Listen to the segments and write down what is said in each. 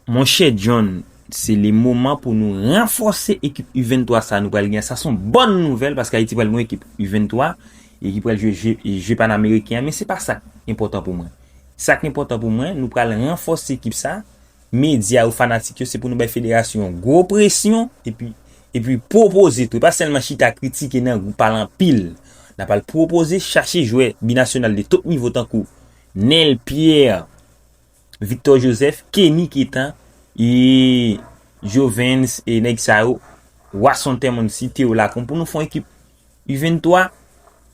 Monchè John se le moman pou nou ranfòse ekip U 23 sa nou pral gen an sa son bòn nouvèl paske Ayiti pral gen yon ekip U 23 e ki pral jwe je panameriken an men se pa sak enpòtan pou mwen sak enpòtan pou mwen nou pral ranfòse ekip sa medya yo fanatik yo se pou nou bay federasyon yon gwo presyon epi epi pwopoze tou e pa sèlman chita kritike nan gou pale anpil nan pral pwopoze chache jwè binasyonal de top nivo tankou Neel Pierre Victor Joseph, Kenny Keta, e Jovens e nèg sa yo, Wasson Temon site yo la kon pou nou fon ekip U23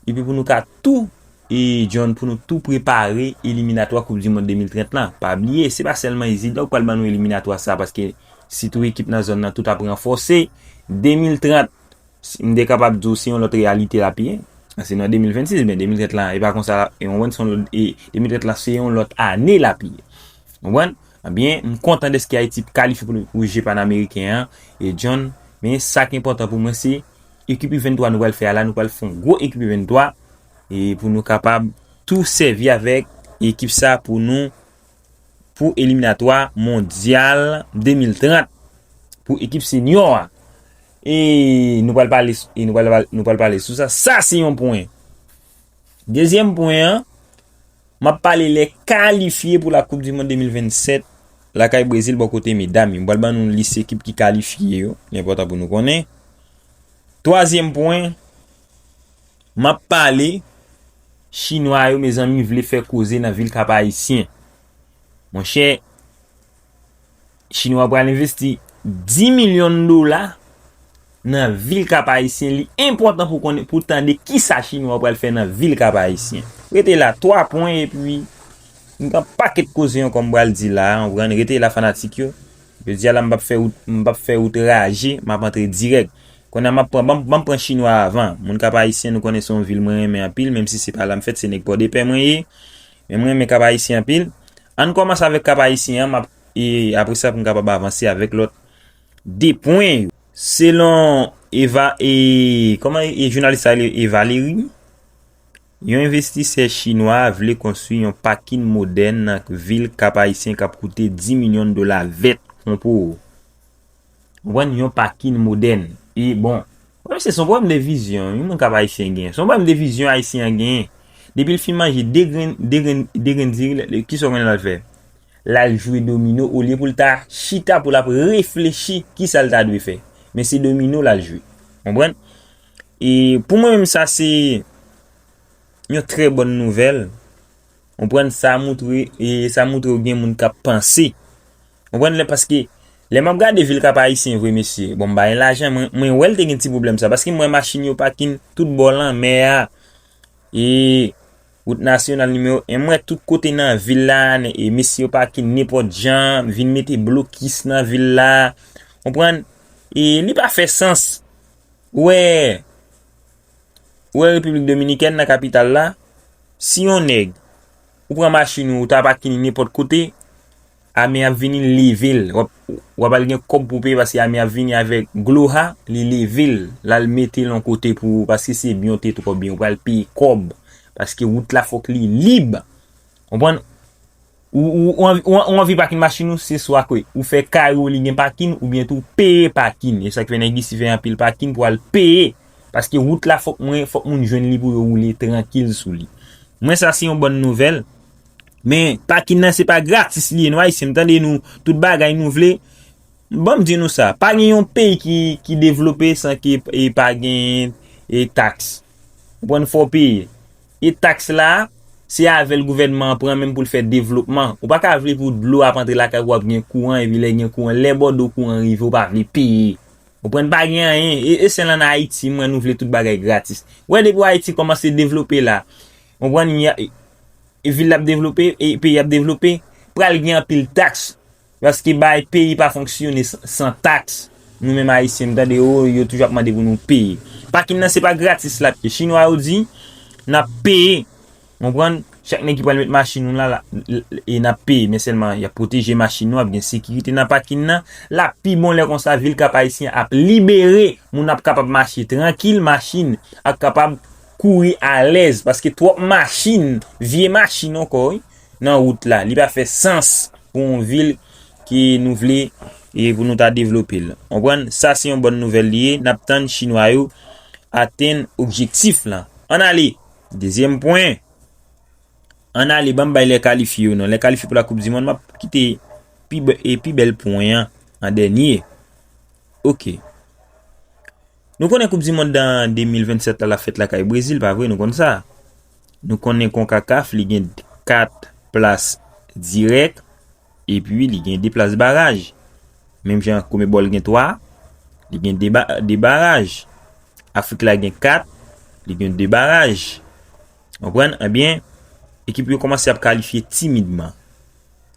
epi pou nou ka tou e John pou nou tou prepare eliminatwa koup du mond 2030 lan. Pa bliye se pa sèlman Izidor ki pral ban nou eliminatwa sa paske si tou ekip nan zòn nan tout ap ranfòse 2030 M te kapab di w se yon lòt reyalite l ap ye. An se nan 2026 men 2030 la e pa konsa l ap ye w konprann se yon lòt e 2030 la se yon lòt ane l ap ye w konprann anbyen m kontan dèske Ayiti kalifye pou pou je panameriken an e John men sa k enpòtan pou mwen se ekip u 23 nou pral fè a la nou pral fè yon gwo ekip u 23 e pou nou kapab tou sèvi avèk ekip sa pou nou pou eliminatwa mondyal 2030 pou ekip senyo a. E nou pral pale sou sa. Sa se yon pwen. Dezyèm pwen an, m ap pale lè kalifye pou la koup di mond 2027 lakay Brezil bò kote medam yo. M pral ban nou lis ekip ki kalifye yo. Li enpòtan pou nou konnen. Twazyèm pwen, Map pale, chinwa yo mezanmi vle fè koze nan vil kap ayisyen monchè chinwa pral envesti 10 milyon dola nan vil kap ayisyen li enpòtan pou konnen pou tande kisa chinwa pral fè nan vil kap ayisyen rete la 3 pwen epi m gen yon paket koze ankò m pral di la ou konprann rete la fanatik yo jodia la m pap fè wout raje map antre dirèk Konnya map pran banm banm pran chinwa avan moun kap ayisyen nou konnen se yon vil mwen renmen anpil menm si se pa lam fèt se nèg pòdepè mwen ye men mwen renmen kap ayisyen anpil ann kòmanse avèk kap ayisyen an map e apresa pou m kapab avanse avèk lòt 2 pwen yo selon eva e kòman e jounalis sa rele e valeri wi yon envestisè chinwa vle konstwi yon pakin modèn nan vil kap ayisyen kap koute 10 milyon dola vèt konpoo. Jwenn yon pakin modèn e bon. Pwoblèm se son pwoblèm de vizyon yon moun kap ayisyen genyen. Son pwoblèm de vizyon ayisyen an genyen. Depi l fin manje 2 grenn, 2 grenn, 2 grenn diri l, kisa w konnen l al fè? L al jwe domino olye pou l ta chita pou l ap reflechi kisa l ta dwe fè. Men se domino l al jwe. Konprann? E pou mwen menm sa se yon trè bòn nouvèl. Konprann? Sa moutre, sa moutre w gen moun kap panse. Konprann lè paske lè map gade vil kap ayisyen vre mesye bon bay lajan mwen wèl te gen ti pwoblèm sa paske m wè machin yo pakin tout bò lanmè a e wout nasyonal nimewo 1 m wè tout kote nan vil la e mesye yo pakin nenpòt jan vin mete blokis nan vil la konprann e li pa fè sans ou wè ou wè repiblik dominikèn nan kapital la si yon nèg ou pran machin ou ou ta pakin nenpòt kote. Ame ap vini li level. Wap al gen kob pou peye paske ame ap vini avek gloha li level lal metel yon kote pou ou paske se byen ou te tro byen ou pral peye kob paske wout la fok li lib konprann ou anvi pakin machin ou se swa ke ou fe kay ou li gen pakin ou byen tou peye pakin esak fe neg isi fe anpil pakin pou al peye paske wout la fok moun jwenn li pou yo woule trankil sou li mwen sa se yon bon nouvel. Men pakin nan se pa gratis li ye nou ayisyen m tande nou tout bagay nou vle banm di nou sa pa gen yon peyi ki devlope san ke e pa gen e tax ou konprann fò peye e tax la se avèl gouvènman pran menm poul fè devlopman ou pa ka vle pou dlo ap antre lakay ou ap gen kouran epi lè gen kouran lè bòdo kouran rive ou pa vle peye ou konprann pa gen anyen e sèl an ayiti m wè nou vle tout bagay gratis ou wè depi ayiti kòmanse devlope la Mwen konprann ya e vil la ap devlope e peyi ap devlope pral gen anpil tax paske bay peyi pa fonksyone san tax nou menm ayisyen nou tande o yo toujou ap mande pou nou peye pakin nan se pa gratis lap ye chinwa yo di nap peye ou konprann chak nèg ki pral met machin nou la e nap peye men sèlman yap pwoteje machin nou ap gen sekirite nan pakin nan lap pi bon lè konsa vil kap ayisyen ap libere moun ap kapab mache trankil machin ap kapab. kouri alèz paske twòp machin, vye machin ankò wi, nan wout la. Li pa fè sans pou yon vil ke nou vle e pou nou ta devlope l. Konprann? Sa se yon bòn nouvèl li ye. N ap tann chinwa yo atenn objektif lan. Ann ale! Dezyèm pwen. Ann ale ban m bay lè kalifye yo non. Lè kalifye pou la koup di mond m ap kite pi bèl pwen an an dènye. Ok. Nou konnen koup di mond dan 2027 la la fèt la kay Brezil pa vre nou konn sa. Nou konnen konkakaf li gen 4 plas dirèk e pi li gen 2 plas baraj. Menm jan kome bòl gen 3, li gen 2 baraj. Afrik la gen 4, li gen 2 baraj. Anpwen, anbyen, ekip yo komanse ap kalifye timidman.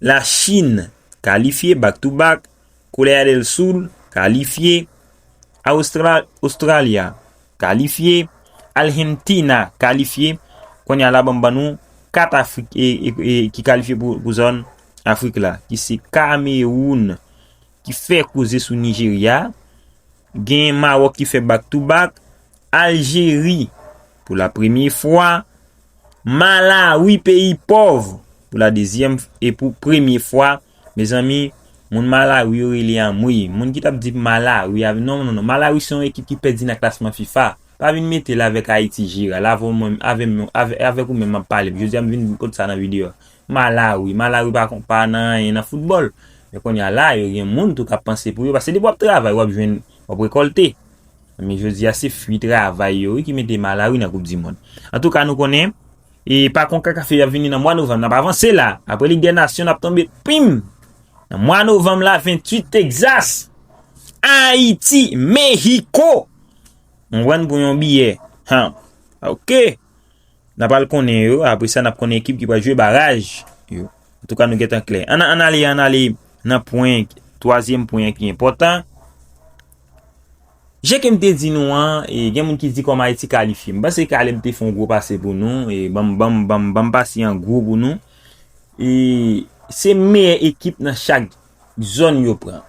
La Chin kalifye back to back, Korea del Sul kalifye, Australia kalifye, Argentina kalifye, konya la banm ban nou 4 afrik ki kalifye pou zòn afrik la ki se Cameroun ki fè koze sou Nigeria, gen Maroc ki fè back to back, Aljeri, pou la premye fwa, Malawi peyi pòv, pou la dezyèm e pou premye fwa, mezanmi, moun Malawi yo rele anmweyy, moun ki tap di Malawi a, non non non, Malawi se yon ekip ki pèdi nan klasman fifa, pa vin mete l avèk Ayiti Jeral, avè w menm, avè m, avèk ou menm map pale, jodi a m vin pot sa nan videyo a, Malawi, Malawi pa kon, pa nan anyen nan foutbòl, men konnya la yo gen moun tou kap panse pou yo, paske depi wap travay wap jwenn, wap rekòlte, Men jodi a se fwi travay yo wi ki mete Malawi nan koup di mond. Antouka nou konnen e pa konkakaf yo yap vini nan mwa novanm nap avanse la apre lig dè nasyon nap tonbe pim nan mwa novanm la 28 Texas Ayiti Mexico konprann pou yon biyè han ok nap al konnen yo apre sa nap konnen ekip ki pral jwe baraj yo antouka nou gentan klè an ale an ale nan pwen twazyèm pwen ki enpòtan Jan ke m te di nou an, gen moun ki di kòm Ayiti kalifye. M panse Caleb te fè yon gwo pase pou nou, banm banm banm banm pase an gwo pou nou. E se meyè ekip nan chak zòn yo pran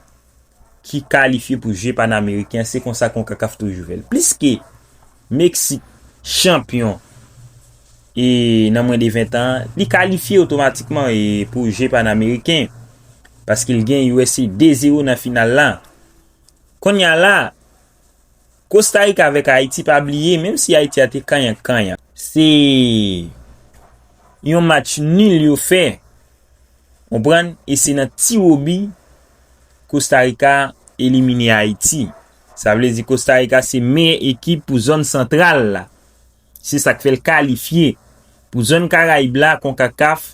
ki kalifye pou je panameriken an, se konsa Concacaf toujou fè l. Pliske Meksik chanpyon e nan mwen de 20 tan an, li kalifye otomatikman pou je panameriken paske l gen usa 2-0 nan final la. Konnya la, Kostarika avèk Ayiti pa bliye menm si Ayiti a te kanyan kanyan. Se yon match nul yo fè, konprann, e se nan tiwobi Kostarika elimine Ayiti. Sa vle di Kostarika se meyè ekip pou zòn santral la. Se sa k fè l kalifye pou zòn Karayib la, Konkakaf.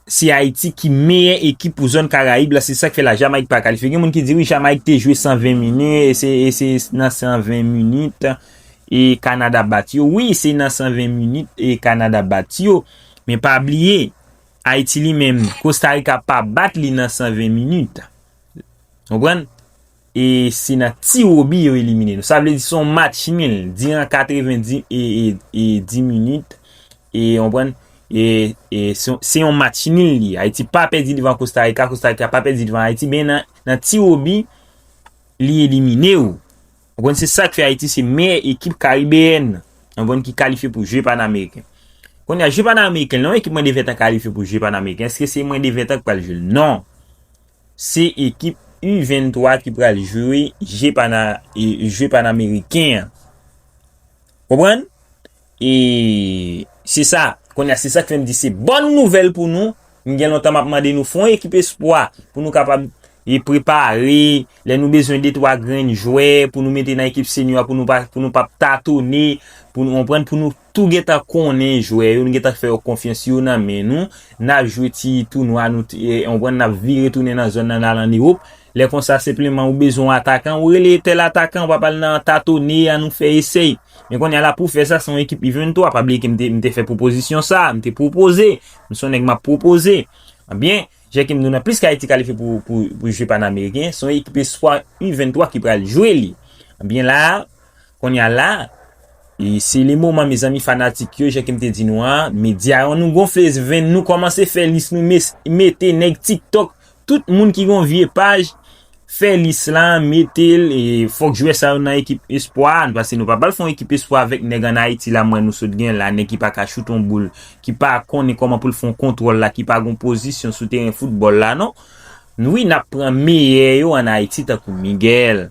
Se Ayiti ki meyè ekip pou zòn Karayib la, se sak fè la Jamayik pa kalifye. Gen moun ki di wi Jamayik te jwe 120 minit e se e se nan 120 minit e Kanada bat yo. Wi se nan 120 minit e Kanada bat yo. Men pa bliye Ayiti li menm Kostarika pa bat li nan 120 minit. Konprann? E se nan tiwobi yo elimine nou. Sa vle di son match nul. Diran 80 di e e 10 minit. E ou konprann. E e se yon match nul li. Ayiti pa pedi devan Kostarika. Kostarika pa pedi devan Ayiti. Ben nan nan tiwobi li elimine ou. Ou konprann se sak fè Ayiti se meyè ekip karibeyèn. Ou konprann ki kalifye pou je pan ameriken. Kounye a je pan ameriken. Lè yon ekip mwen devetan kalifye pou je pan ameriken. Eske se mwen devetan k pral jwe l? Non. Se ekip U 23 ki pral jwe je pana jwe panameriken an konprann e se sa kounye a se sak fèm di se bòn nouvèl pou nou m gen lontan map mande nou fè yon ekip espwa pou nou kapab e prepare lè nou bezwen de twa grenn jwè pou nou mete nan ekip seniò a pou nou pa pou nou pap tatone pou nou konprann pou nou tou gentan konnen jwè yo, nou gentan fè yo konfyans yo nan men nou, nap jwe ti tounwa nou t konprann nap vire tounen nan zòn nan nal an Ewop, lè konsa senpleman ou bezwen yon atakan ou rele tèl atakan wap al nan tatone a nou fè esèy, men konnya la pou fè sa se yon ekip U23, pa bliye ke m te m te fè pwopozisyon sa, m te pwopoze, m se yon nèg map pwopoze, ebyen jan kem di w nan pliske Ayiti kalifye pou pou jwe panameriken se yon ekip espwa U23 ki pral jwe li, ebyen la. Konya la se le moman mezanmi fanatik yo jan kem te di nou an media yo nou gonfle venn nou komanse fè lis nou mete neg tiktok tout moun ki gon vye paj fè lis la metel fok jwè sa yo nan ekip espwa paske nou pa pral fon ekip espwa avek neg an ayiti la m wè nou sot gen la neg ki paka choute yon boul ki pa konnen koman poul fon kontwol la ki pa gon pozisyon sou teren foutbol la non wi nap pran meyè yo an ayiti tankou Miguel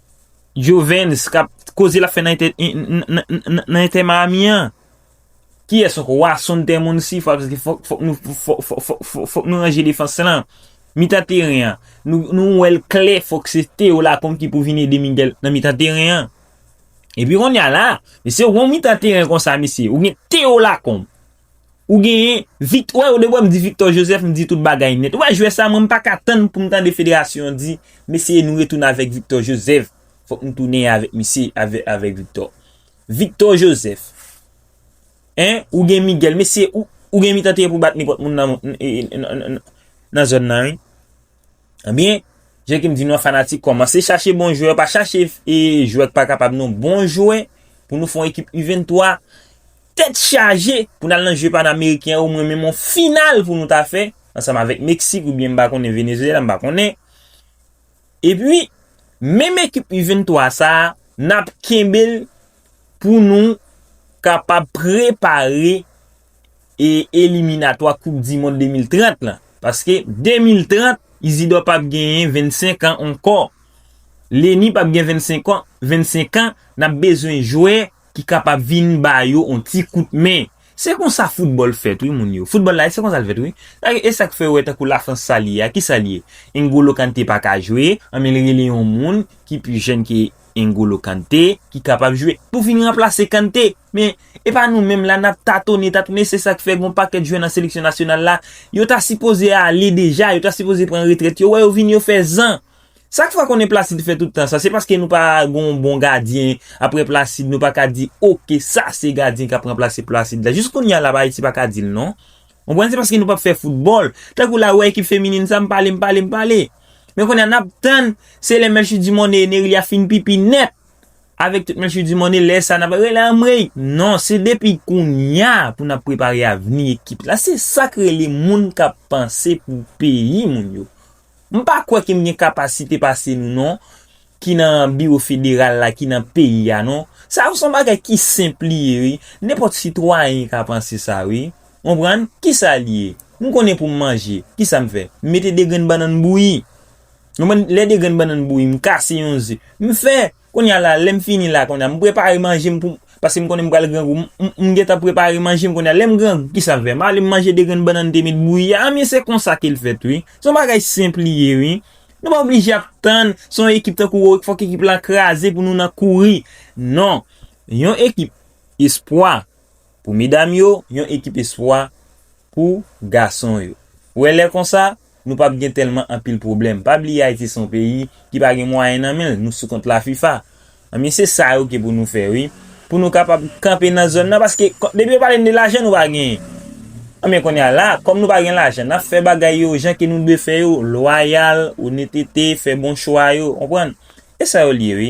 Jovens kap koze lap fè nan nan entè Miami an kiyès ankò wa son tè moun si fwa paske fòk fòk nou fòk nou ranje defans lan mitan teren an nou wèl klè fòk se Théo Lacombe ki pou vin ede Miguel nan mitan teren an epi konnya la mesye ou gon mitan teren konsa mesye ou gen Théo Lacombe Ou genyen vikt wè ou de wè m di Victor Joseph m di tout bagay nèt ou wè jwè sa mwen m paka tann pou m tande federasyon di mesye nou retounen avèk Victor Joseph fòk nou tounen avèk misye avèk Victor Victor Joseph en ou gen Miguel mesye ou gen mitan teren pou bat nenpòt moun nan zòn nan wi. Ebyen, jan ke m di nou an fanatik kòmanse chache bon jwè, pa chache jwè k pa kapab non, bon jwè pou nou fè yon ekip U23 tèt chaje pou n al nan jeu panameriken yo, mwen menm yon final pou nou ta fè ansanm avèk Meksik oubyen m pa konnen Venezyela, m pa konnen. Epi, menm ekip U23 sa a, n ap kenbe l pou nou kapab prepare e eliminatwa koup di mond 2030 lan paske 2030 izidò pap genyen 25 an ankò leni pap gen 25 an nap bezwen jwè ki kapab vin ba yo on ti kout men se konsa foutbòl fèt wi moun yo foutbòl la se konsa l fèt wi esak fè wè tankou lafrans sal ye a kisa l ye n'golo kante paka jwe anben l rele yon moun ki pi jèn ke N'Golo Kante ki kapab jwe pou vin ranplase Kante. Men, e pa nou menm la n'ap tatone, tatone se sa ki fè gon pakèt jwè nan seleksyon nasyonal la, yo ta sipoze ale deja, yo ta sipoze pran retrèt yo wè yo vin yo fè zan. Sak fè konnen Placide fè tout tan sa, se paske nou pa gon bon gadyen aprè Placide nou pa ka di ok sa se gadyen k'ap ranplase Placide la. Jis kounya la Ayiti pa ka di'l non. Konprann se paske nou pap fè foutbòl. Tankou la ou wè ekip feminin sa m pale m pale m pale. Men kounye a nap tann se lè Melchie Dumornay e Nerilia fin pipi nèt avèk tout Melchie Dumornay lè sa nap rele anmweyy. Non se depi kounya pou nap prepare avni ekip la. Se sak rele moun kap panse pou peyi moun yo. M pa kwè ke m gen kapasite pase nou non, ki nan biwo federal la, ki nan peyi a non. Sa yo se yon bagay ki senp li ye wi. Nenpòt sitwayen ka panse sa wi. Ou konprann? Ki sa li ye? M konnen pou m manje, ki sa m fè? M mete 2 grenn bannann bouyi. Ou konprann? Lè 2 grenn bannann bouyi, m kase yon ze, m fè. Konnya la lèm fini la konnya m prepare manje m pou paske m konnen m pral grangou m gentan prepare manje m konnya lèm grangou kisa m fè m ale m manje 2 grenn bannann m te met bouyi a ebyen se konsa kel fèt wi son bagay senp li ye wi nou pa oblije ap tann son ekip tankou wou fòk ekip lan kraze pou nou nan kouri non yon ekip espwa Pou medam yo, yon ekip espwa pou gason yo. Ou wè lè konsa, nou pap gen tèlman anpil pwoblèm. Pa bliye Ayiti se yon peyi ki pa gen mwayen nan men l, nou sou kont la fifa. Ebyen se sa yo ki pou nou fè wi. Pou nou kapab kanpe nan zòn nan paske depi yo pale n de lajan nou pa genyen. Ebyen kounye a la, kòm nou pa gen lajan, n ap fè bagay yo jan ke nou dwe fè yo, lwayal, onetete, fè bon chwa yo, konprann. E sa yo l ye wi.